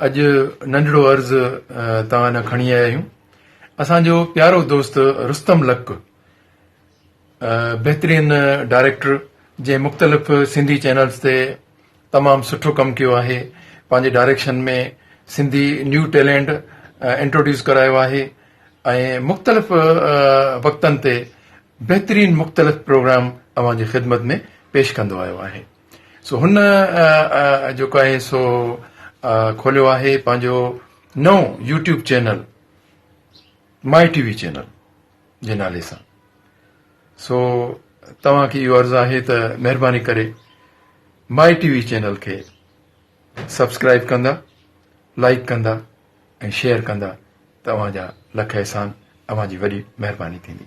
اڄ ننڍڙو عرض توهان ڏانهن کڻي آيا آهيون اسان جو پيارو دوست رستم لڪ بهترين ڊائريڪٽر جنهن مختلف سنڌي چينلز تي تمام سٺو ڪم ڪيو آهي پنهنجي direction ۾ Sindhi new talent introduce ڪرايو آهي ۽ مختلف وقتن تي بهترين مختلف پروگرام اوهان جي خدمت ۾ پيش ڪندو آيو آهي سو هن جيڪو آهي سو کوليو آهي پنهنجو نئون YouTube channel my T V channel جي نالي سان سو توهان کي اهو عرض آهي ته مهرباني ڪري مائي ٽي وي چينل کي سبسڪرائب ڪندا لائڪ ڪندا ۽ شيئر ڪندا ته اوهان جا لک احسان اوهان جي وڏي مهرباني ٿيندي